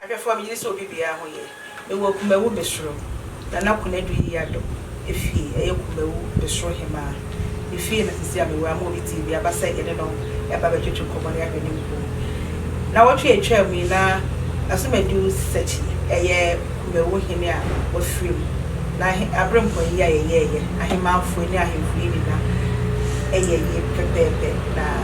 Ahwɛfo a megye di sɛ obi biara ho ye. Mewɔ Akumawu Besuro, Nana Konadu Yiado fie. Ɛyɛ Kumawu Besuro Hemaa ne fie na seesei a mewɔ a ma obi tee bi aba sɛ yɛne no reba abɛtwetwe nkɔmmɔ na yɛahwɛ ne nkuro mu. Nnawɔtwe a ɛtwaa mu yi na Asomadu Sisakyi yɛ Kumawu Hene a wafiri mu na aberempɔn yi a yɛyɛeɛ, Ahemmanfoɔ yi ne Ahemfo yi nyina yɛ yie pɛpɛɛpɛ na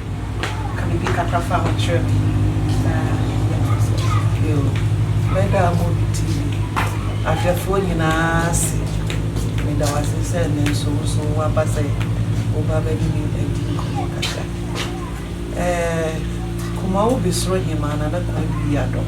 ka biribi kakra fa ho kyerɛ me na yɛafa asɛm no mu. Yo, meda Amobi TV ahwɛfoɔ nyinaa ase. Meda wo ase sɛ ɛnnɛ nso wo nso woaba sɛ woba bɛne me adi nkɔmmɔ kakra. Ɛɛ, Kumawubi Soro Hemaa Nana Kwabui Adom.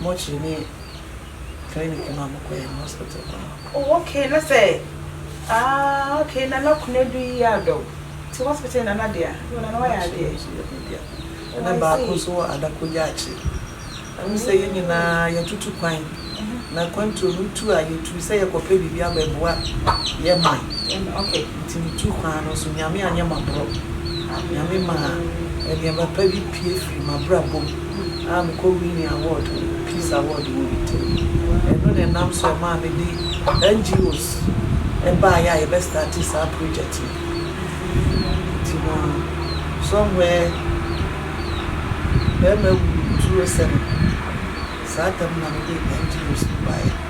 mortuary ne clinic no a mokɔyɛ no hospital hɔ no. Oh ok na sɛ aah ok nana kunadu yi yɛ adɔ wo nti hospital yɛ nana dea oh nana wayɛ adeɛ oh I see. Nana nso yɛ me dea ɛna baako nso wɔ adako yaakye ɛne sɛ yɛn nyinaa yɛtutu kwan na kwantuo no tu a yɛtu sɛ yɛkɔ pɛ biribi abɛboa yɛ man ok nti metu kwan no nso nyame anyɛ maborɔ nyame maa nneɛma pa bi pue firi mabrabɔ mu. a mekɔ winni award, peace award wɔ Italy. Ɛno na ɛnam so ɛmaa me de NGOs baeɛ a yɛbɛ starte saa project no. Nti no somewhere bɛɛma wuu 2007 saa tam na mede NGOs no baeɛ.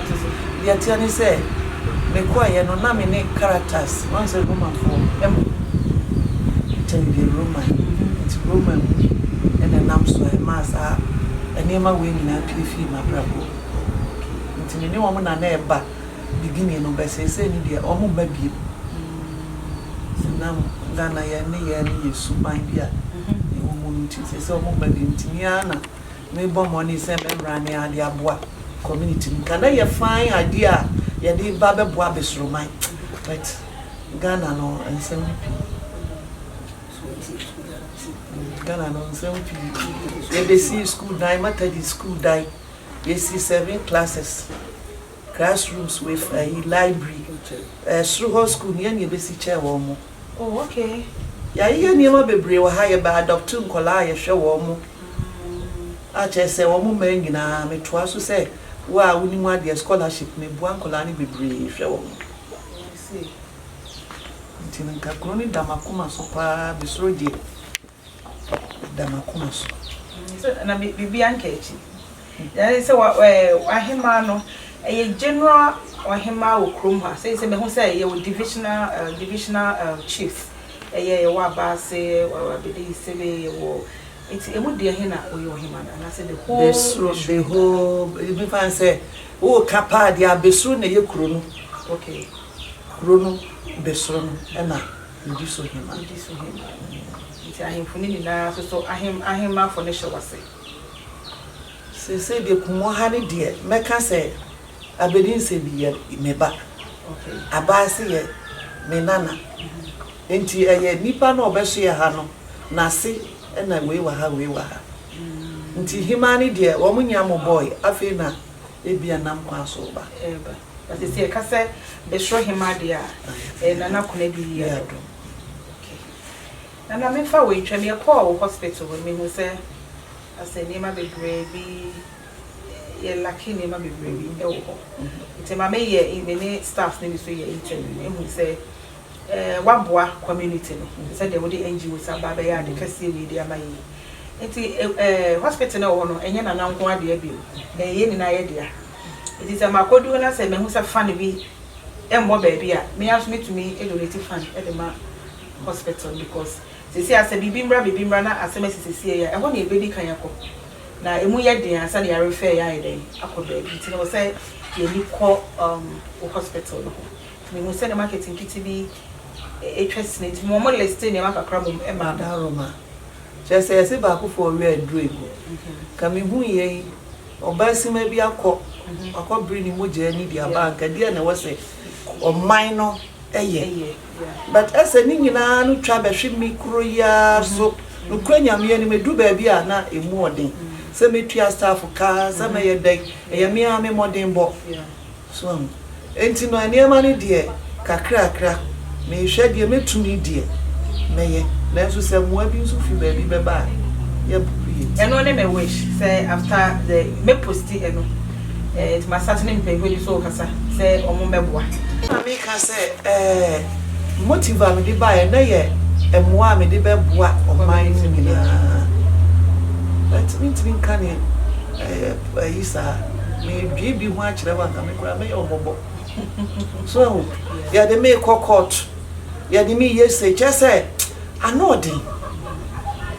Deɛ ɛteɛ ne sɛ, mekɔeɛ no, na me ne Caritas, woahu sɛ Romafoɔ, ɛm, kyɛ me deɛ Roman, nti Roman mu na ɛnam so a ɛmaa saa nneɛma wei nyinaa pue fii m'abrabɔ mu. Nti me ne wɔn na na ɛba beginning no, but seesei no deɛ, wɔmma bio. Nti na Ghana yɛn nneyɛɛ no yɛ suban bi a ɛwɔ mu no nti, seesei wɔmma bio, nti me ara na. Mebɔ mmɔden sɛ mɛmmra ne ade aboa community no Ghana yɛ fine adeɛ a yɛde ba bɛboa besuroman but Ghana no nsɛm no pii Ghana no nsɛm pii yɛbɛsii school dan Matadi school dan yɛsii seven classes Class rooms wei fa ayi library ɛɛ soro hɔ school no yɛ na yɛbɛsi kyɛɛ wɔn mo. Oh okay. Yɛayeyɛ nneɛma bebree wɔ ha yɛbɛ adopto nkwadaa a yɛhwɛ wɔn mo a kyerɛ sɛ wɔn mmaa nyinaa metoa so sɛ wo a wonim adeɛ scholarship meboa nkwadaa no bebree hwɛ wɔn mo. I see. Nti no nka kuro no da m'akoma so paa mesoro deɛ. da m'akoma so. So na biribiara nka akyi? Yɛae sɛ wa ɛɛ w'ahemaa no ɛyɛ general ɔhemaa wɔ kurom ha. Sei sɛ mahu sɛ yɛwɔ divisional ɛɛ divisional ɛɛ chiefs ɛyɛ yɛwɔ Abaase, yɛwɔ Abɛde Isebe, yɛwɔ nti emu deɛ he na ɔyɛ ɔhemaa no anaasɛ the whole Abɛsuro the Abɛsuro nyinaa? whole ebi fa sɛ woka paa deɛ Abɛsuro na ɛyɛ kuro no. Okay. Kuro no Abɛsuro no ɛna Nniso-hemma. Nniso-hemma. Enti ahemfo no nyinaa sosɔ ahem, ahemmafo no hyew ase. Seesei deɛ kumɔ ha no deɛ, mɛka sɛ Abedi Nsebi yɛ me ba. Okay. Abaase yɛ me nana. Enti ɛyɛ nipa no a ɔbɛsoɛ ha no n'ase na wei wɔ ha, wei wɔ ha. Nti hemmaa no deɛ, wɔn nyia mo bɔɔe, afei na ebia nam kwan so reba. Reba. Na sɛ sɛ yɛka sɛ Besro Hemmaa deɛ a, ɛyɛ Nana Konadu Yiya Dodo. Okay. Nana memfa wei ntwam, yɛkɔɔ wo hospital hɔ no mehu sɛ asɛ nneɛma bebree bi, yɛ lacke nneɛma bebree bi wɔ hɔ. Nti ma me yɛ, me ne staff no bi nso yɛ interview, ehu sɛ eh, woaboa community no te sɛ deɛ wode NGOs aba abɛyɛ ade kɛseɛ wei de ama yɛ yi. Nti eh, hospital no a ɛwɔ hɔ no, ɛnyɛ Nana nko ara dea bio, ɛyɛ yɛn nyinaa yɛ dea. Enti sɛ makodu hɔ na sɛ mahu sɛ fan bi mmɔ baabi a, me ara nso metumi donate fan de ma hospital no because seesei ara sɛ biribi mmra biribi mmra na asɛm asi seesei yi a, ɛhɔ na yɛbɛdi kan akɔ. Na ɛmu yɛ den ansa na yɛarefɛɛ yɛn ayɛ dɛn akɔ baabi. Enti na ɛwɔ sɛ yɛn ani kɔ wo hospital no ho. Enti mehuu sɛ na market nkete bi atwa sini nti mema wɔlistee nneɛma kakra mmom maa me. Daroma, kyerɛ sɛ yɛse baako fɔɔ wɛ aduro egu. Ka mehuu yei Ɔbaasima bi akɔ akɔbere ne mogya ani de aba anka deɛ na ɛwɔ sɛ ɔman no yɛ but ɛsɛ ne nyinaa no twa bɛhwe me kuro yi ara so nokorɛ Nyame anim ɛduru baabi a na ɛmu ɔden sɛ mɛtua staff ka sɛ mɛyɛ dɛn ɛyɛ me ara me mmɔdenbɔ. So ahu? Enti no nneɛma no deɛ kakrakra, mehwɛ deɛ mɛtumi deɛ mɛyɛ, nanso sɛ mmoa bi nso firi baabi bɛba a, yɛbɛpopo yɛn ti. Ɛno ne me wish sɛ after the mɛ post ɛno eh nti ma start ne mpanyinfoɔ bi nso rekasa sɛ wɔn bɛboa. Ɛna me ka sɛ eh motive a mede baeɛ na yɛ mmoa a mede bɛboa ɔman no nyinaa but mentumi nka neɛ eh. Ayi saa medwee bi ho akyerɛ wo anka me koraa mɛyɛ wo mɔbɔ so ahu yɛde me kɔ court yɛde me yɛ sei kyɛ sɛ ano ɔden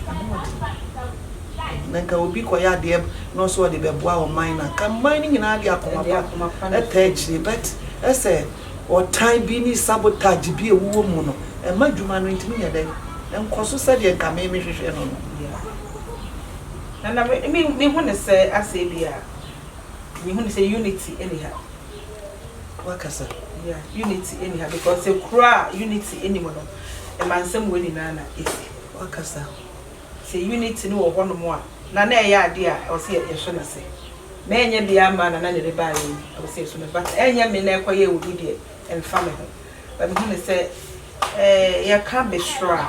ano ɔden na nka obi kɔ yɛ adeɛ na ɔsɛ ɔde bɛboa ɔman na nka mman no nyinaa de akoma pa ɛta akyire but ɛsɛ ɔtan bi ne sabotage bi ɛwuwɔ mu no ɛma dwuma no ntumi nyɛ dɛn nkɔ so sɛdeɛ nka me mehwehwɛ no no Na na me me me hu no sɛ asɛ bia me hu no sɛ unity ɛni ha. Wakasa yeah unity ɛni ha because sɛ kuro a unity ɛni mu no ɛmansɛm wei nyinaa na ɛsi. Wakasa sɛ unity no wɔ hɔ nom a na na ɛyɛ adeɛ a ɛwɔ sɛ yɛ so no ase na ɛnyɛ bia ama na na na ɛde baa yɛn ɛwɔ sɛ yɛ so no but ɛnyɛ me na ɛkɔ yɛ obi deɛ ɛnfa me ho but me hu no sɛ ɛɛ yɛ ka bɛsoro a.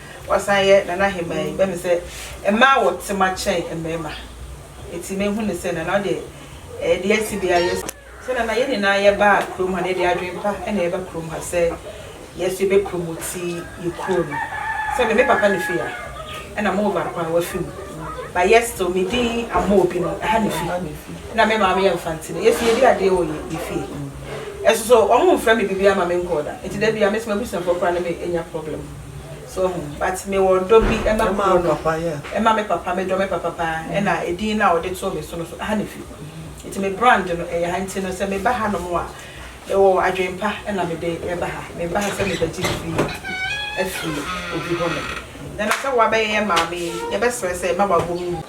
Wasan yɛ Nana Ahemaa yi, bɛ me sɛ mmaa wɔ tema kyɛn mmarima. Enti me hu no sɛ Nana wo deɛ ɛɛ deɛ asi biara yɛ so. Sɛ Nana yɛ nyinaa yɛ baa kurom ha na yɛ de adwene pa na yɛ ba kurom ha sɛ yɛ so yɛ bɛ promoti yɛ kuro no. Sɛ me me papa ne fie a ɛna mo baako a wafi mu but yɛ still me din Amoo bi no ɛha ne fi ɛna me maame yɛ Mfante no yɛ so yɛ di adeɛ wɔ yɛ yɛ fie. Ɛso so wɔn nfrɛ me biribiara ma me nkɔɔ da enti da biara me so m'abusuafoɔ koraa ne me nya problem. So wohu? But mewɔ ɔdɔ bi ma kuro no, ma me papa, medɔ me papa paa, ɛna edin no a wɔde too me so no nso, ɛha na efi. Nti me brand no, ɛyɛ ha. Nti no, sɛ meba hanom a, mewɔ adwene pa na mede reba ha. Meba ha sɛ merebɛgye biribi afi obi hɔnom. Ɛnna sɛ woabɛyɛ yɛn maame yi, yɛbɛsrɛ sɛ mma w'abɔwomu.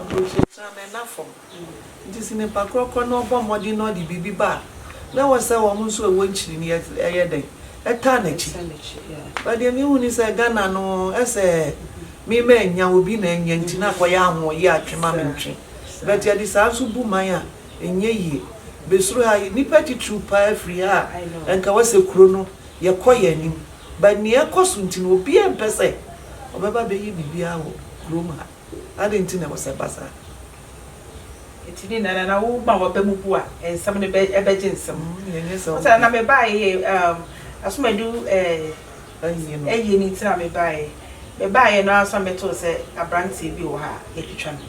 Aburokyiakyia, mɛnna fam. Enti sɛ nipa korɔkorɔ no ɔbɔ mmɔden na ɔde biribi ba a, na ɛwɔ sɛ wɔn nso a ɛwɔ nkyirimii ɛyɛ dɛn? Ɛtaa n'akyi. But deɛ mehu ne sɛ Ghana no ɛsɛ me ma ɛnya, obi na ɛnya nti na akɔyɛ ahooyɛ a twe ma me ntwe. But yɛde saa nso bu man a, ɛnyɛ yie. Bɛsuro ha yi, nnipa titiriw pa ara firi ha a ɛnka wɔ sɛ kuro no yɛkɔ yɛn anim. But nea ɛkɔ so nti no, obiara mpɛ sɛ ɔbɛba abɛyɛ biribiara wɔ kurom ha. Adɛn nti na ɛwɔ sɛ ɛba saa? Enti ne nyinaa no, na woma w'aba mu bu a, nsɛm no bɛgye nsam. Ɔse, na na mebaeɛ, asom adu ayie no nti na mebaeɛ. Mebaeɛ no ara nso na metoo sɛ aberanteɛ bi wɔ ha a, yɛatwitwa no.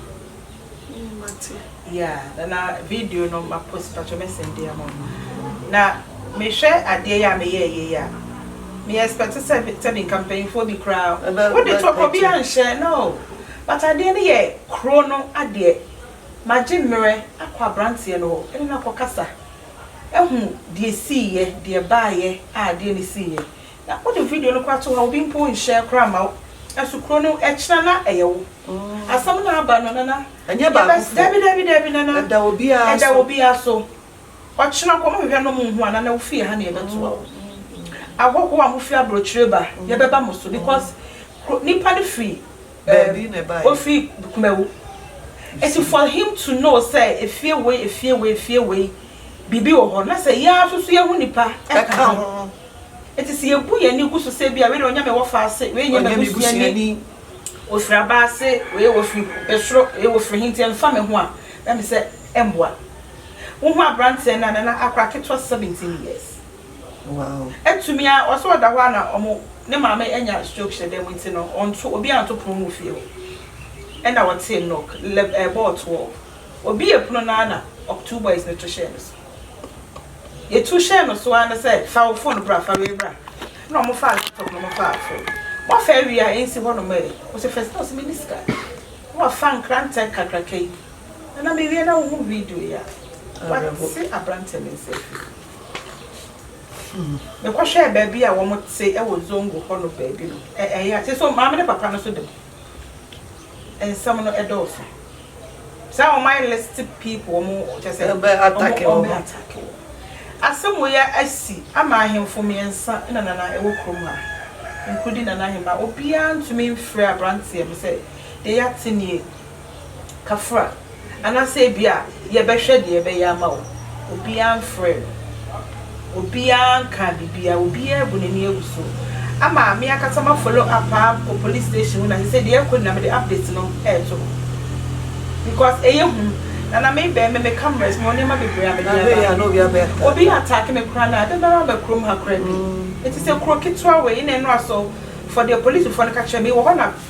Yeah na na video no ma post pakyɛ mɛ send de ama wo na me hwɛ adeɛ yi a me yɛ yɛ yi a me expect sɛ sɛ me nka mpanyinfoɔ bi koraa wo de to ɔkɔ bi anhyɛ no but adeɛ no yɛ kuro no adeɛ ma gye mmerɛ akɔ abranteɛ no hɔ ɛne no akɔ kasa ahu deɛ sii yɛ deɛ baa yɛ a adeɛ no sii yɛ na wo de video no koraa to hɔ obi mpo nhyɛ koraa ma wo ɛso kuro no ɛkyina na ɛyɛ wo asɛm no aba no na na. Ɛnyɛ baakofoɔ. Dabi dabi dabi nana. Ɛda obiara so. Ɛda obiara so. Ɔkyena kɔ mo hwehwɛ no mo nhu a nana wofie ha na yɛbɛtoa wo. Ahɔhoɔ a mofiri abrokyire ba yɛbɛba mo so because kuro nipa no firi eh ofiri kumawu nti for him to know sɛ efie wei efie wei efie wei biribi wɔ hɔ na sɛ yɛn ara nso so yɛhu nipa ɛka ho nti sɛ yɛbu yɛn ani gu so sɛ ebia wei deɛ ɔnyɛ me wɔfa ase wei nyɛ m'abusuani. Wɔfiri aba ase, ee, wɔfiri soro, ee, wɔfiri he nti ɛmfa me ho a, na me sɛ ɛmmoa. Wohu aberanteɛ no a, na na akora ketewa, seventeen years. Atumi ara, ɔse ɔda hɔ a na ɔmo, ne maame anya stroke hyɛ dan mu nti no, ɔnto, obiara nto pono mu wɔ fie hɔ. Ɛna ɔtee knock, lɛ, ɛbɔɔ toɔ. Obiee pono no ara na ɔk, two boys no to hyɛɛ no so. Yɛtu hyɛɛ no so ara ne sɛ, Fa wo fon bra, fa wei bra. Ɛnna wɔfaa laptop no, wɔfaa fon. Wɔafa awie a, ɛnsi hɔnom ɛ? Ɔse, Fɛstina, ɔse, menni sika. Na wafa nkrantɛ kakraka yi. Nana, mewie na wohu video yi a, wate aberanteɛ no nsa afiri mu. Mekɔhwɛɛ baabi a wɔte wɔ Zongo hɔ no baabi no, ɛ, ɛyɛ a, seesei maame ne papa no nso da mu. nsɛm no dɔɔso saa wɔn ayɛ list people wɔn kyɛ sɛ wɔn atake wɔn atake wɔn asɛm wɔ yɛ asi ama ahemfo mmiɛnsa na nana ɛwɔ kurom ha nkurudi nana ahema obiara ntumi mfrɛ abranteɛ bi sɛ deɛ yɛate nie kafra, anaasɛ ebia yɛbɛhwɛ deɛ ɛbɛyɛ ama wo. Obiara mfrɛɛ me. Obiara nkaa biribiara. Obiara abu n'ani agu so. Ama me ankasa m'afollow up ara kɔ police station hɔ na sɛ sɛ deɛ ɛrekɔ nyinaa mede update no reto hɔ. Because ɛyɛ hu. Na na me bɛn me me cameras, mewɔ nneɛma bebree a mede aba. Obi attack me koraa no a, dɛn ara ba kurom ha koraa bi. Ɛte sɛ kuro ketewa wei na ɛno ara so for deɛ policefoɔ no ka kyerɛ me, mewɔ hɔ na.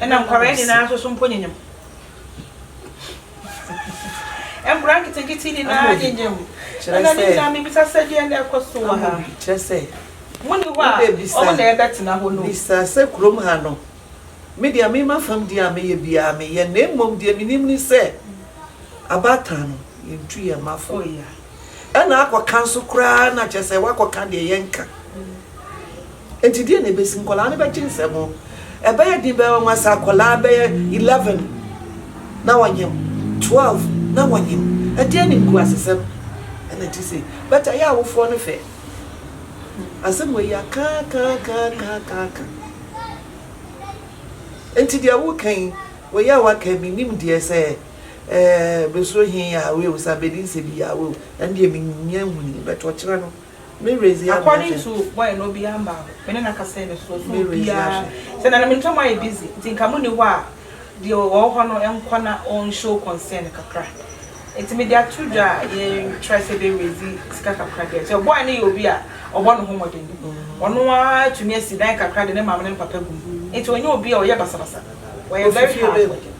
Ɛna nkwadaa nyinaa nso so mpo nyenyem. Nkwadaa nketenkete nyinaa nyenyem. Ɛna ne nyinaa mebisa sɛ deɛ na ɛkɔ so wɔ ha. Kyerɛ sɛ. Mo ni hɔ a wɔn na ɛbɛtena hɔ no. Bisa sɛ kurom ha no. Me deɛ me ma fam deɛ a meyɛ biara meyɛ na mmom deɛ menim ni sɛ abatan no yɛntu yɛn ma fo. Ɛna akɔka nso koraa na kyerɛ sɛ wakɔka deɛ yɛnka. Enti deɛn na ɛbɛsi? Nkwadaa no bɛgye nsɛm ho. Ɛbɛyɛ den bɛyɛ nwanwa sɛ akwadaa bɛyɛ eleven na wɔnyem, twelve na wɔnyem. Ɛdeɛn ne nkuasesɛm na ɛte sei? But ɛyɛ awofoɔ no fɛ. Asɛm wei yɛ akaakaakaakaaka. Enti deɛ woka yi, wei a woaka yi, mennim deɛ sɛ ɛɛ bɛsuro he Yahweh o, sɛ abɛdi nsɛ bi Yahweh o, ɛno deɛ mennya nhunii. But ɔkyena no. Me Redzia Hwɛ. According to boy no obiaa mmaa hɔ me ne no akasa ɛne so so obiaa sɛ na na me ne tɔm ayɛ busy nti nka mo ni hɔ a deɛ ɔwɔ hɔ no nkɔ na ɔn show concern kakra nti me de ato dwa a yɛ try sɛ yɛbɛ raise sika kakra deɛ sɛ boy no yɛ obi a ɔbɔ ne ho mmɔden ɔno ara tumi asi dan kakra de ne maame ne ne papa gu mu nti ɔnyɛ obi a ɔyɛ basabasa ɔyɛ very hard working.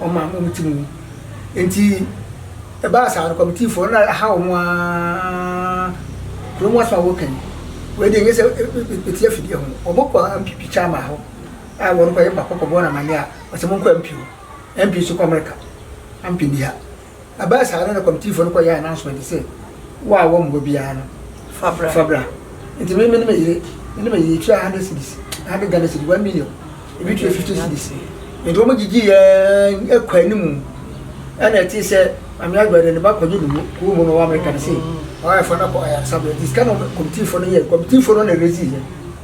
Wɔma wɔn ti mu. Enti ɛbaa saa no, kɔmitifoɔ no aha wɔn ara. Kuro mu asɛm a wɔreka yi, wei deɛ ɛnyɛ sɛ ɛtia afidie ho. Wɔkɔ MP Kyama hɔ a wɔrekɔyɛ bako kɔbɔ no amanneɛ a, ɔse monkɔ MP hɔ. MP nso kɔ Amerika, ampɛ bi ha. Ɛbaa saa no na kɔmitiifo no kɔyɛɛ announcement sɛ, Wo a wɔmmoa biara no, fa bra. Fa bra. Nti me ne me yere, me ne me yere tuaa 100 cedis, 100 Ghana cedi, 1 million. Ebi tuaa 50 cedis. Nti wɔn gyigye yɛn ɛkɔ anim. Ɛna ɛte sɛ Maame Adwoa de ne ba kɔgye no kurom hɔ na ɔwɔ America no sei. Ɔyɛ fa no akɔ ayaresabea. Nti sika na kɔmitiifo no yɛe. Kɔmitiifo no na ɛrezi yɛn.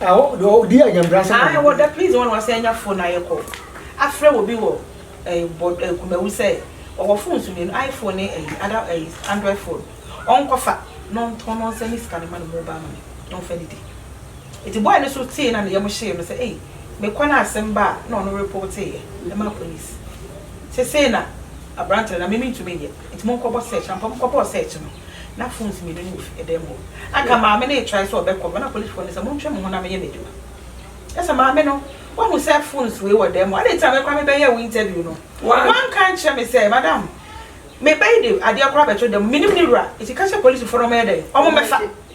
Ae wɔda please wɔn a wɔasan anya phone na yɛkɔ afrɛ wɔ bi wɔ Kumawu sɛ ɔwɔ phone so mmienu iPhone ne ɛyi other ɛyi Android phone ɔnkɔfa na ɔntɔn na ɔnsan ne sika no ma no mobile money na ɔnfa nnidi nti boy no nso tee na ne yam hyee no sɛ ei mekɔ na asɛm ba a na ɔno reporteeɛ ɛmaa police sesei na aberanteɛ no na me mentumi nyɛ. Nti mo nkɔbɔ search. Ampa mo kɔbɔɔ search no na phones mmienu no wɔ fie ɛdan mu hɔ. Anka maame no retrae sɛ ɔbɛkɔ no na policefoɔ no sɛ montwe mo ho na menyɛ m'adwuma. Ɛsɛ maame no woahu sɛ phones wei wɔ dan mu adɛn nti na me koraa mebɛyɛɛ wo interview no woanka ankyerɛ me sɛ madam meba yi de adeɛ koraa bɛto dan mu menim ne wura nti ka kyerɛ policefoɔ no wɔnyɛ dɛn wɔmmɛfa.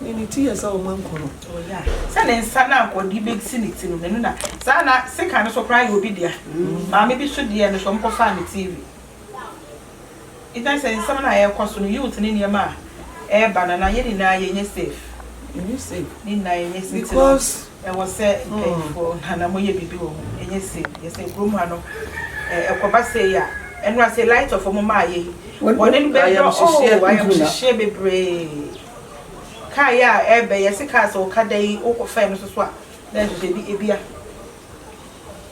Nea ne ti yɛ sɛ ɔma nku no. Oh yeah. Sɛ ne nsa no anka ɔde bɛsi ne ti no, n'ani na. Saa na sekan no so koraa yɛ obi dea. Maame bi so deɛ no so ɔmo kɔfaa no TV. Even sɛ nsɛm no a ɛɛkɔ so no, youth ne nneɛma a ɛɛba no, na yɛn nyinaa yɛnyɛ safe. Yɛnyɛ safe. Yɛn nyinaa yɛnyɛ safe. Because Ɛwɔ sɛ mpanyimfo ha na wɔyɛ biribi wɔ ho, ɛnyɛ sei. Yɛ sɛ kurom ha no, ɛ, ɛkɔba sei a, ɛno ara, sɛ light off a wɔmaeɛ yi, bɔne no bɛdɔ, Ayamhyehyeɛ. oo, ayamhyehyeɛ bebree. Kaa yi a ɛrebɛ yi, yɛse kaa, sɛ ɔka da yi, wokɔfɛe no nso so a, na ɛhyehyɛ bi, ebia.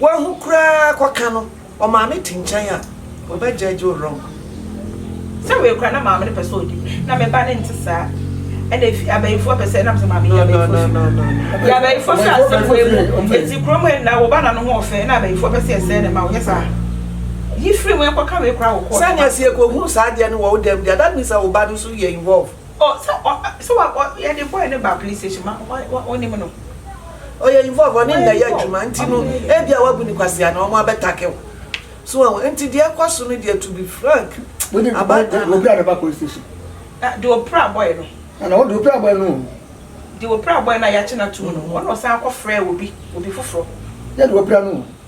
Woahu koraa kɔ ka no wɔ maame ti nkyɛn a ɔbɛ judge wo wrong. Sɛ wei koraa na maame no pɛ sɛ ɔdi mu na me ba no nte saa ɛna efi abayifoɔ pɛ sɛ ɛnam sɛ maame yɛ abayifoɔ fi mu yɛ abayifoɔ fi asɛm wei mu eti kurom ha nyinaa wɔba na no ho ɔfɛ ɛna abayifoɔ pɛ sɛ ɛsɛɛ ne ma ɔnyɛ saa yi firi mu ɛnkɔ ka wei koraa wɔ court. Sɛnea sɛ yɛkɔhunu saa adeɛ no wɔ wo dɛm deɛ that means sɛ wo ba no nso yɛ involve. Oh sɛ ɔ sɛ wa ɔ yɛde boy no baa police station ma wa wa wonim no. Ɔyɛ involve ɔne nna yɛ adwuma nti no ebia wabu no kwasea na wɔn abɛtake wo so wɔn nti deɛ ɛkɔ so no deɛ to be frank abaatan no. Wopira ne ba police station. Ah deɛ ɔpira boy no. Ah na ɔde ɔpira boy no o. Deɛ ɔpira boy no a yɛakye no atum no ɔna ɔsan kɔ frɛ obi obi foforɔ. Yɛ deɛ ɔpira no o.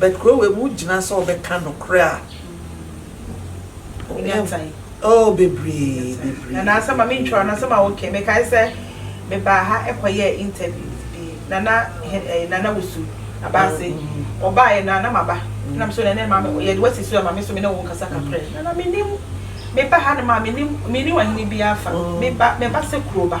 But kuro wei mu gyina sɛ ɔbɛka nokorɛ a Ɛnya time. Oh bebree bebree. Nana asɛm a mentwerɛ no asɛm a wokae mekae sɛ mebaa ha kɔyɛɛ interviews bi na na eh, Nana Wusu Abase ɔbaeɛ no a na maba na me so Nana ma me yɛde wasi so ma me so me ne wo nkasa kakra yi Nana menim meba hanom a menim menni ɔhene biara fa meba meba sɛ kuroba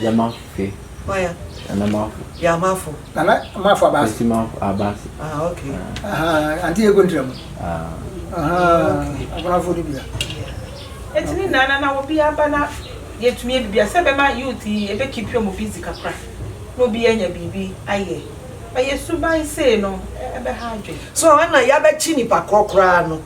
Yama fe. Waya. Nana mafo. Yamafo. Nana mafo abasi. Kwesi mafo abasi. Ah okay. Aha anti yɛ kontra mu. Ah. Aha akonafo ni bia. Eti ni nana na obi aba na yɛtumi ebibi asɛ bɛma youth yi ebe keep wɔn busy kakra na obi anya biribi ayɛ ɔyɛ suban sei no ɛbɛha adwene. So ɛna yabɛkye nipa korɔ koraa no.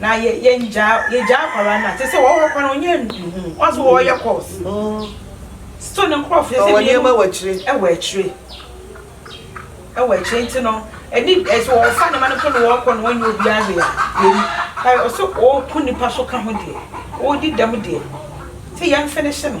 Na yɛ yɛ ngyaa yɛgyaa akwadaa no a te sɛ wɔ hɔ koraa no ɔnyɛ nhunu wɔn nso wɔreyɛ course still ne nkorɔfoɔ sɛ mmienu ɛwɔ akyire ɛwɔ akyire ɛwɔ akyire nti no ɛni ɛsɛ wɔfa ne ma no mpo na wɔrekɔ na wɔnyɛ obiara hwee a yɛni ayi ɔsɛ ɔreku nipa so ka ho deɛ ɔredi dɛm deɛ sɛ yɛn finish no.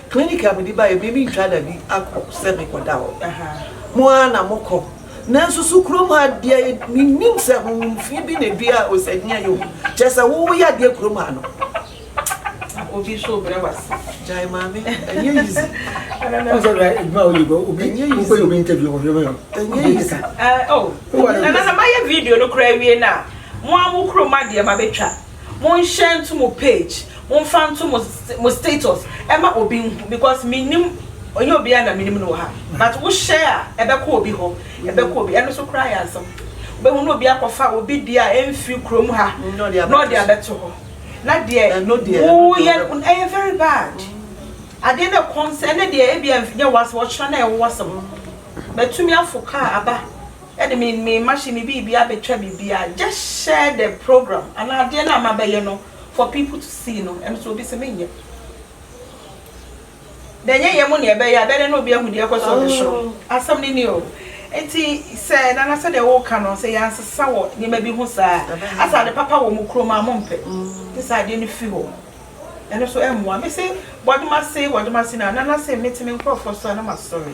Clinic a mede baeɛ me mentwa da bi akɔ sɛ mekɔda hɔ. Mo ara na mokɔ. Nanso so kurom ha deɛ mennim sɛ honhom fi bi na ɛdua Osadnia yi o. Kyerɛ sɛ wo woyɛ adeɛ kurom ha no. Obi nso rebrɛ wo ase. Gyae maame, ɛnyɛ easy. Ɔn sɛ ɛyɛ adwuma a woyɛ bi, obi, Ɛnyɛ easy. wokɔyɛ obi interview wɔ hwehwɛ yɛ. Ɛnyɛ Obi easy. keka. Eh, oh. Wowɔ ne Nana, sɛ mayɛ video no koraa awie no a, mo ara mo kurom adeɛ mabɛtwa. Mo nhyɛ nto mo page mo nfa nto mo mo status ɛma obi nhu because me nim ɔnyɛ obiara na me nim no wɔ ha but wo hyɛ a ɛbɛkɔ obi hɔ ɛbɛkɔ obi ɛno so koraa yɛ asɛm wobɛhu no obi akɔfa obi deɛ a ɛmfiri kurom ha na ɔde abɛto hɔ na deɛ woyɛ ɛyɛ very bad adeɛ na ɛkɔm sɛ ɛne deɛ ebi ɛnyɛ wasɛm ɔkyerɛ na ɛwɔ wasɛm bɛtumi afo kaa aba de me me machine me biribia betwa biribia just share the program anaa adeɛ no a mabɛyɛ no for people to see no ɛno so obi se menyɛ na ɛnyɛ yɛ mo ne ɛbɛyɛ abɛdɛ na obi ahu deɛ ɛkɔ so ɔde soro asɛm no ni o nti sɛ nana sɛdeɛ woka no sɛ yɛansesa wɔ nneɛma bi ho saa asa ade papa wɔ mo kurom a mompɛ te sɛ adeɛ no fi hɔ ɛno so ɛmmoa me se bɔdoma se bɔdoma se na nana se mete me nkurɔfoɔ so a na masɔre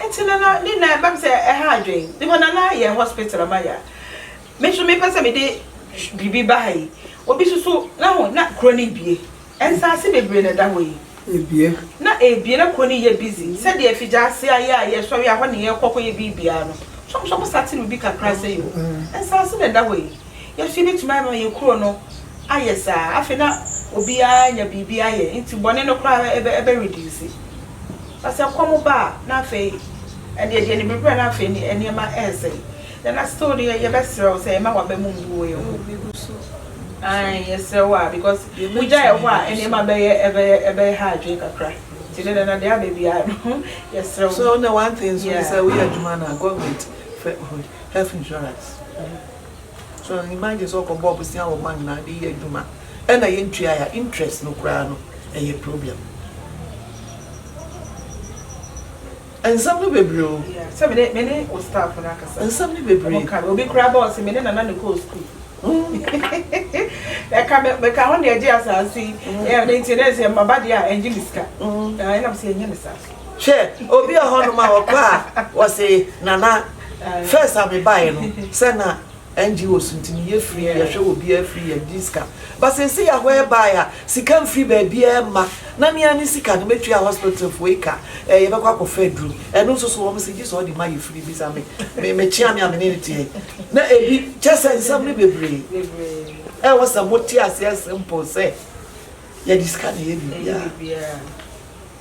Ntsi na na ne nan ba me sɛ ɛha adwen. Ne hɔ na na yɛ hospital ama ya. Me so me pɛ sɛ me de biribi ba ha yi. Obi so so na ho na kuro no ebie. Nsaase bebree na ɛda hɔ yi. Ebie. Na ebie na kuro no yɛ busy sɛ deɛ afigya ase a yɛ a yɛ sɔre a hɔ na yɛ kɔ kɔ yɛ biribiara no. So so mo sa te no bi kakra sɛ yoo. Nsaase na ɛda hɔ yi. Yɛ so yɛ bɛtumi ayɛ ma yɛ kuro no ayɛ saa. Afei na obiara anya biribi ayɛ. Nti bɔne no koraa ɛbɛ ɛbɛ reduce. Na sɛ kɔm ba a, na afei ɛnde ɛdeɛ ne bɛbrɛ na afei ne nneɛma ɛresɛe. Then na still deɛ yɛbɛsrɛ wo sɛ mma w'aba mu mbu wɔ yɛn ho. Ae, yɛsrɛ wo a because wogya yɛn hɔ a nneɛma bɛyɛ ɛbɛyɛ ɛbɛyɛ ha adwene kakra. Nti ne nana deɛ aba biara no yɛsrɛ wo. So na one thing nso ne sɛ woyɛ adwuma no a government frɛ health insurance. So you imagine sɛ ɔkɔ bɔ bosea wɔ hɔ anaa de yɛ adwuma ɛna yɛ ntuae a interest no koraa no ɛyɛ problem. Nsɛm no bebree o. Yeah, sɛ mene mene o staff no akasa. Nsɛm no bebree. Ɔmo ka obi koraa bɔ ɔse mene nana ne kɔɔ school. Ɛka me meka ho deɛ gye asaase. Mm. Yeah, ne nti ne sɛ maba deɛ a ɛngye me sika. Mm. Ɛnam sɛ ɛnyɛ ne saa so. Hwɛ obi wɔ hɔ nom a ɔkɔ a ɔse Nana first a me baeɛ no sɛ na NGO so nti meyɛ free yɛhwɛ obiara free yɛde di sika but seesei yɛaho ɛbaeɛ a sika mfiri baabiara mma na me ara me sika no mɛtua hospital foɔ yi ka ɛɛ yɛbɛkɔ akɔfa aduro ɛno nso so wɔn se gye sɛ ɔde ma yɛ free bisa me me mekyea me a me ne ne teɛ na ebi kyɛ sɛ nsɛm no bebree ɛwɔ sɛ mote aseɛ simple sɛ yɛde sika na ɛyɛ biribiara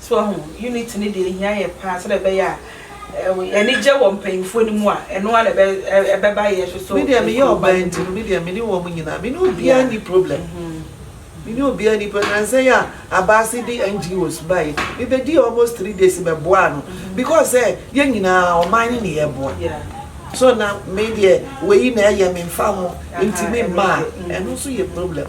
So wahu? Unity no deɛ ɛhia yɛn paa sɛdeɛ ɛbɛyɛ a anigye wɔ mpanyimfoɔ no mu a, ɛno ara na ɛbɛba yɛn nso so. Me deɛ meyɛ ɔbaa nti no, me deɛ me ne wɔn nyinaa, me ne obiara nni problem. Me ne obiara nni problem. Nnansa yi a Abaase de NGOs baeɛ, mebɛdii almost three days mɛboaa no because sɛ yɛn nyinaa ɔman no na yɛreboa. So na me deɛ wei na ɛyɛ me mfa ho nti memma a, ɛno nso yɛ problem.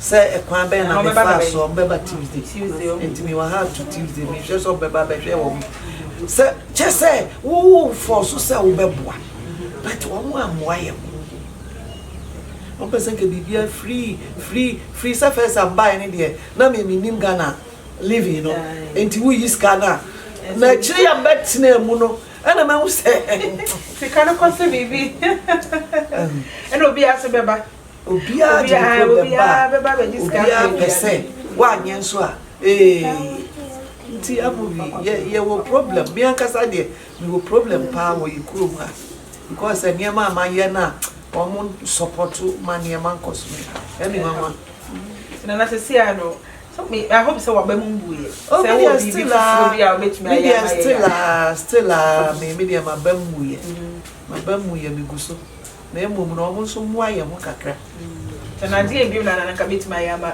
sɛ kwan bɛn na mefaa so, ɔbɛba Tuesday, nti mewɔ ha to Tuesday, mehwɛ sɛ ɔbɛba bɛhwɛ wɔn sɛ kyɛ sɛ wo fɔ so sɛ wobɛboa but wɔn ammoa yɛ mo wɔn pɛ sɛ nka biribiara free free free sɛ fɛs ambae ne deɛ na me menim Ghana living no nti woyi sika no a na akyire yɛ mbɛtena mu no ɛna mahu sɛ sika no kɔ sɛ biribi ɛna obi ase bɛba Obiara de ne problem ba a, obiara pɛ sɛ woanyɛ nso a, ee. Nti Amobi, yɛ yɛwɔ problem. Me ankasa deɛ, mewɔ problem paa wɔ yɛ kurom ha because sɛ nneɛma a mayɛ no a, wɔn nsɔpɔto ma nneɛma nkɔ so. Ɛne nwanwa. Nana sɛsi a no, so me, I hope sɛ w'aba mu mbu yɛ. Oh, me deɛ still a, me deɛ still a, still a, me, me deɛ m'aba mu yɛ. M'aba mu yɛ, megu so. na mmom na wɔn nso mmoa yɛn ho kakra. Sɛ nante yɛ bio na na anka mɛtumi ayɛ ama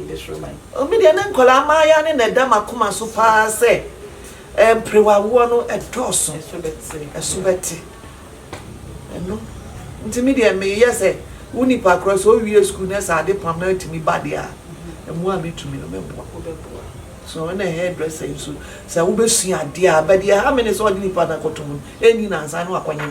bɛsoro man. Me deɛ me nkwadaa mmaayɛ ne na ɛda m'akoma so paa sɛ mperewawoɔ no ɛdɔɔso, ɛso bɛte. Ɛno nti me deɛ meyɛ sɛ wo nipa korɔ sɛ ɔwie sukuu na sɛ ade pam na atumi ba deɛ a, mmoa a mɛtumi no mɛboa. So ɛna hair dresser nso sɛ wobɛsua adeɛ a, but deɛ ɛha me ne sɛ ɔde nipa no akɔto mu no ɛnni nansa na wakɔnye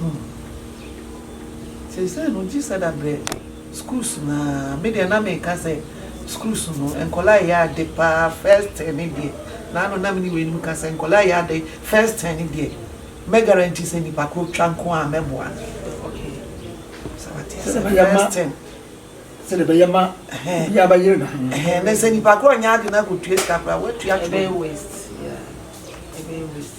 Hum. Seisei no ɔgye sada brɛ schools no aa, me deɛ na meka sɛ schools no nkwadaa yɛ ade paa first term no deɛ, na ano na me ne weinom ka sɛ nkwadaa yɛ ade first term no deɛ mɛ guarantee sɛ nipa korɔ twa nko aa mɛboa no. Sɛ wate aseɛ first term. Sɛdeɛ bɛyɛ ma, sɛdeɛ bɛyɛ ma obiara bɛyere na ho. Ɛhɛn, na sɛ nipa korɔ nyɛ ade na akɔtua sika koraa, woatua twene. Ɛbɛyɛ waste, yeah, ɛbɛyɛ waste.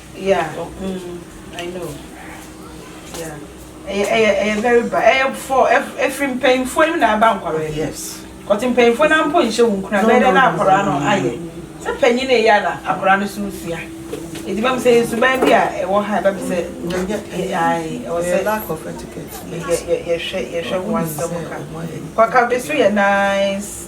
Yeah uhmm I know yeah ɛyɛ ɛyɛ ɛyɛ very bad ɛyɛ for ɛfiri mpanyinfoɔ no na ɛba nkwadaa yi yes kɔte mpanyinfoɔ no ampo nhyɛ wɔn kura bɛyɛ dɛ na akwadaa no ayɛ sɛ panyin na ɛyɛ na akwadaa no so sua edi bɛm sɛ nsuban bi a ɛwɔ ha ɛbɛm sɛ ayi ɛwɔ sɛ lack of etiquette yɛ yɛ yɛhwɛ yɛhwɛ ho asɛm ka kɔka bɛ so yɛ nice.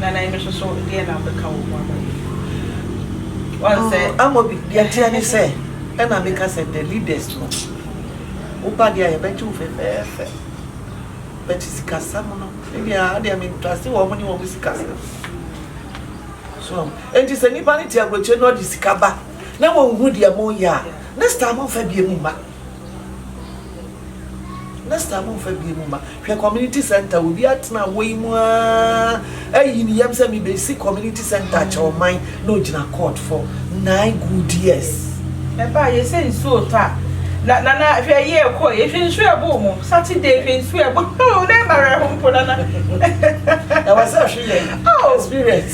Nana yi nso so deɛ na wobɛka wɔ ho ama yɛn? Wɔn sɛ. Oh, Amobi, deɛ ɛteɛ ne sɛ, ɛna meka sɛ the leaders no, woba deɛ a yɛbɛgye wo fɛfɛɛfɛ. But sikasɛm no, ebi a adeɛ mentrase wɔn ne wɔn sikasɛm. So, enti sɛ nipa no te aburokyire na ɔde sika ba na wɔn hu deɛ mo yɛ a, next time nfa bie mu mma. Next time momfa bie mu ma. Hwɛ community center obi atena wɔ yi mu aa ayi ne yam sɛ mebɛsi community center akyɛ ɔman na ogyina court for nine good years. Ɛbaa yɛ sɛ nsuo retɔ a na nana hwɛ yie ɛkɔ yɛ hwɛ nsuo ɛbɔ ɔmo Saturday hwɛ nsuo ɛbɔ ɔmo na ɛma wɛrɛ ho mpo nana. Ɛwɔ sɛ ɔhwe yɛn experience.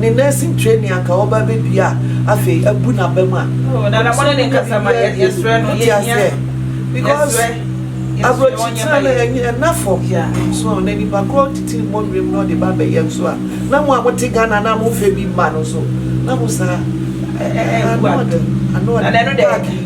Ne nursing training anka ɔba abɛdua a afei abu n'abam a. Oh Nana mo ne ne nkasa ma yɛ yɛsrɛ no yɛhia no because abrɔkyitena no ɛnyɛ ɛna fam so na nipa korɔ titiri mmɔ nwuram na ɔde ba bɛyɛ nso a na mo a mo te Ghana na mo nfɛ bi mma no nso na mo saa ano ɔden ano ɔden.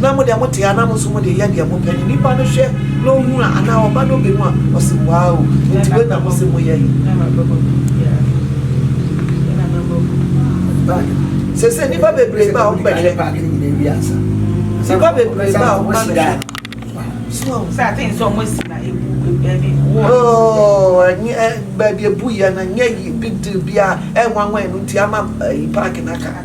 Na mo deɛ mo te a na mo nso mo deɛ yɛ deɛ mo pɛ no nipa no hwɛ na ohu a anaa ɔba na ɔbɛhu a ɔse waa o nti wei na mo se mo yɛ yi sese nipa bebree ba a ɔmo bɛhwɛ nipa bebree ba a ɔmo ba bɛhwɛ baabi ebu yɛ na nyɛ yi big deal bi a ɛnwanwa ɛnu nti ama ɛyi paaki n'aka.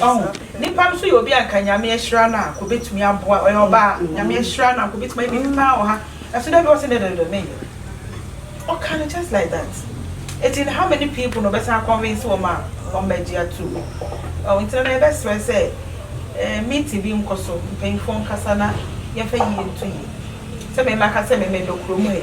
Ɔho nipa no so yɛ obi a nka nyame ahyira no a nka obetumi aboa ɔyɛ ɔbaa nyame ahyira no a nka obetumi ayɛ biribi paa wɔ ha ɛso dɛ bi ɔsɛ dɛ dɛ dɛ menyɛ ɔka no just like that eti no how many people na ɔbɛsan akɔnvinse wɔn a wɔn bɛgye ato mu ɔho nti na yɛbɛsrɛ sɛ ɛɛ meeting bi nkɔ so mpanyinfoɔ nkasa na yɛnfa yie nto yie sɛ mɛma ka sɛ mɛmɛ dɔ kurom ha yi.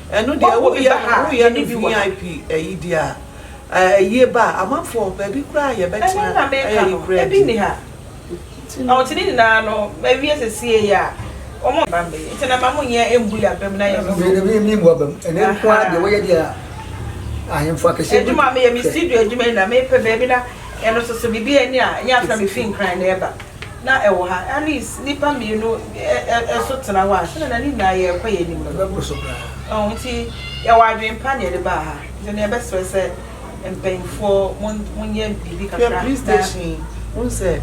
Ɛno deɛ wo yɛ no wo yɛ no vip ɛyi deɛ a ɛyie ba a amanfoɔ baabi koraa a yɛ bɛ tea ɛyɛ yi koraa di nti no. Ɔte ne nyinaa no mawie sesie yi a wɔn mma me nti na ma mo nyɛ mbu yɛ abam na yɛ no so. Me me mbu abam ɛnɛ nko ara deɛ wo yɛ deɛ a ahemfo akɛseɛ bi. Adwuma a me yɛ me studio adwuma yi na me pɛ baabi na yɛ no so so biribi ɛni a ɛnyɛ afra me fi nkran na ɛba. na ɛwɔ ha, at least nnipa mmienu nso tena hɔ a, sɛdeɛ na ne nyinaa yɛ rekɔ yɛn anim no, ɛbɛkɔ so koraa. Nti yɛwɔ adwene pa na yɛde baa ha, nti na yɛbɛsrɛ sɛ mpanyinfoɔ monyɛ biribi kakra na. Hwɛ police station yi, wohu sɛ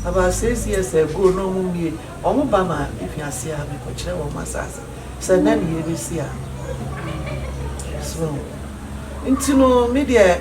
about six years ago na wɔn mmie, wɔn ba ma efi aseɛ ha bɛkɔ kyerɛ wɔn asaase, sɛ nnɛ na yɛrebɛsi ha, so nti no me deɛ.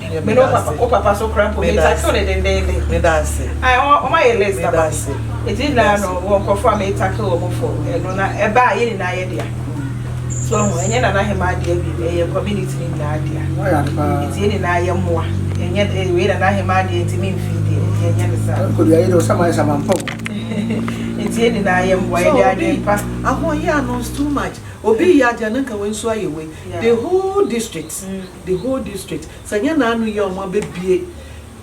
Nyame da ase. Me da ase. Me da ase. Me da ase. Ahoɔyaa no is too much. Obi yɛ adeɛ a na nka wei nso ayɛ wei. The whole district. The whole district sɛ nyɛ na ano yi a ɔmo abɛ bie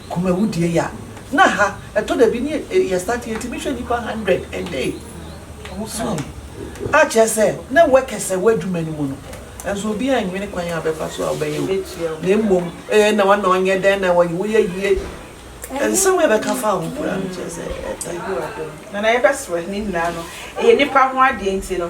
kumawudie yi a na ha ɛtɔ da bi ne yɛ start yɛ tumi hwɛ nipa hundred a day so a kyerɛ sɛ na workers ɛwɔ adwuma no mu no nso obi anwene kwan a ɔbɛfa so a ɔbɛyɛ o na mmom ee na wɔn na ɔnyɛ dɛn na wɔyɛ woyɛ yie nsɛm a ɛbɛka fa ho koraa no kyerɛ sɛ ɛta. Nana yɛbɛsrɛ ne nyinaa no ɛyɛ nipa ho adeɛ nti no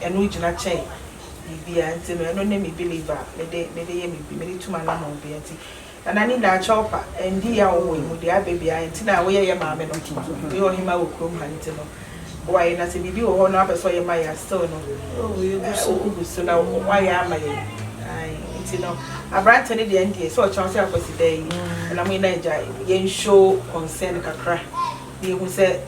Ɛno gyina kyɛn biribiara nti no ɛno ne me believe a mede mede yɛ me mede tu m'anamɔn bia nti Nana ne nyinaa kyɛw pa ɛndi yɛ a ɔwɔ yɛ mu deɛ abɛ biara nti na woyɛ yɛ maame no woyɛ ɔhemaa wɔ kurom ha nti no boa yɛ na sɛ biribi wɔ hɔ no wapɛ sɛ ɔyɛ ma yɛ a still no wogu so na woayɛ ama yɛ ae nti no aberante no deɛ ndeɛ sɛ ɔkyɛn sɛ akwasi da yi ɛna mo nyinaa gya yɛn show concern kakra na yɛhu sɛ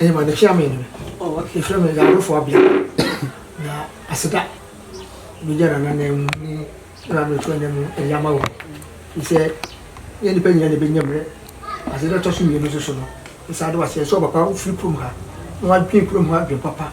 Ɛyɛ ma ne chairman no. Oh okay. Efrɛ me Yawrefo Abia. Na aseda bɛgya na nanan mu ne na me fo na mu ɛyɛ ama wo. Sɛ yɛ nipa nyina na bɛnya mmerɛ. Ase dɛ tɔ so mmienu nso so no. Nsa de wase ɛsɛ ɔpapa wo firi kurom ha. Na wadwen kurom ha adwen papa.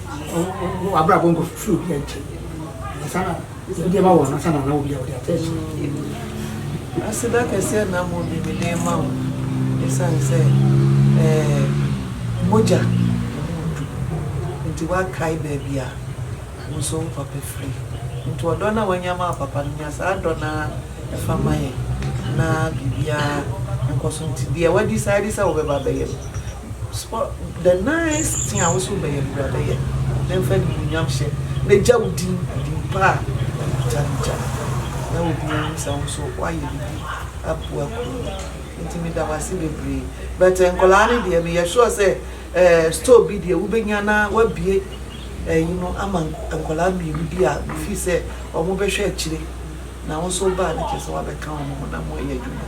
w'abrabɔ nkɔ firi obi nkyɛn ansa na obi ama wɔ ansa na na obi a wɔde ata akyi. Aseda kɛseɛ na mo bi mede ma wo ɛsiane sɛ ɛɛ mogya nti wakae baabi a wo nso wo papa firi nti ɔdɔ no a wanya ma wo papa no nya saa dɔ no fa ma yɛn na biribiara nkɔ so nti deɛ wadi saa adi sɛ wobɛba bɛyɛ no Sɔ the nice thing a woso bɛyɛ no bra bɛyɛ na mfa animuonyam hyɛ na gya wo din din pa a ɛfata no gya na obiara hu sɛ woso woayɛ biribi aboa kuro no nti meda wo ase bebree but nkwadaa no deɛ meyɛ sure sɛ eh store bi deɛ wobɛnya na wabue ɛyi no ama nkwadaa mmienu bi a mefii sɛ wɔn bɛhwɛ akyire na woso baa no kyerɛ sɛ wabɛka wɔn ho na moayɛ adwuma.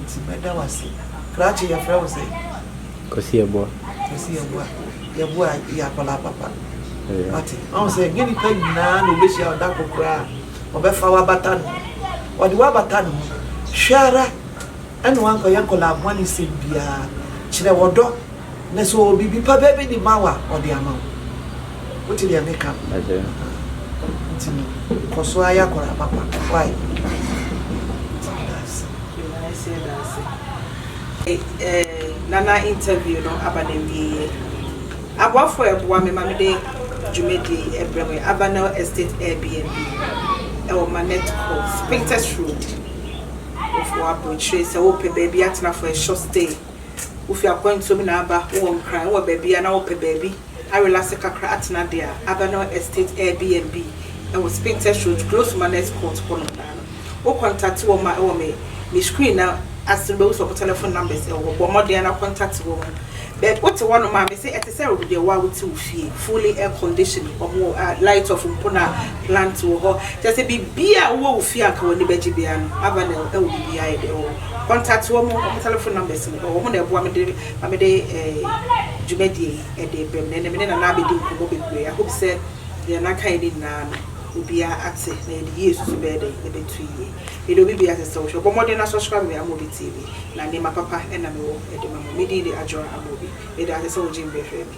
Nti mɛda wo ase. Krachi yɛfrɛ wo sɛn? Kwasi Yeboah. Kwasi Yeboah. Yeboah yɛ akwadaa papa. Wate? Ɔhu sɛ ɛnyɛ nipa nyinaa na ɔbɛhyia ɔda ko koraa ɔbɛfa wabata ne ho. Ɔde wabata ne ho. Hwɛ ara ɛna wankɔyɛ nkwadaa bɔne sɛm biara. Kyerɛ ɔdɔ. Na sɛ ɔwɔ biribi pa bɛɛ bi de ma wo a, ɔde ama wo. Wote deɛ meka no? Ase. Nti no, kɔ so ara yɛ akwadaa papa. Why? Nti meda ase. Meda ase da ase. Eh, Nana interview no aba no awieɛ. Aboafoɔ a ɛboa me ma mede dwumadie yi brɛ mo yɛ Avanel Estate Airbnb, ɛwɔ Manette Court, Spintex Road, Ofoɔ Aburokyire. Sɛ wopɛ baabi atena for a short stay. wofi akwantuo mu na aba, wowɔ Nkran, wowɔ baabi a na wopɛ baabi arelase kakra atena deɛ a, aba no Estate Airbnb wɔ Spintex Road, close to Manners Court hɔ nom naa no. Wo kɔntate wɔn a ɛwɔ me me screen no ase no wobɛhu sɛ wɔn telephone numbers wɔ hɔ, bɔ mmɔden ara na kɔntate wɔn. But wote hɔ nom a me se ɛte sɛ deɛ wo a wote wo fie, fully air condition, wɔn wɔ a light off mpo na plant wɔ hɔ, kyerɛ sɛ biribiara a wowɔ wo fie a anka w'ani bɛgye biara no, Avanel wɔ biribiara yɛ deɛ ɛwɔ hɔ. contact wɔn wɔn telephone numbers no wɔn na ɛboa me de ma me de eh, dwumadie yi ɛde eh, brɛ me na me ne nana abɛdi nkɔmmɔ bebree I hope sɛ deɛ nana kae ne nyinaa no obiara ate na yɛde yie susu bɛyɛ dɛn ɛbɛtu yie mede obi bia sɛ sɛ wohwɛ bɔ mmɔden na subscribe me Amobi TV na nneɛma papa ɛna mewɔ ɛde ma mo me din de Adwoa Amobi mede ase sɛ wogye mbrɛ hwɛ me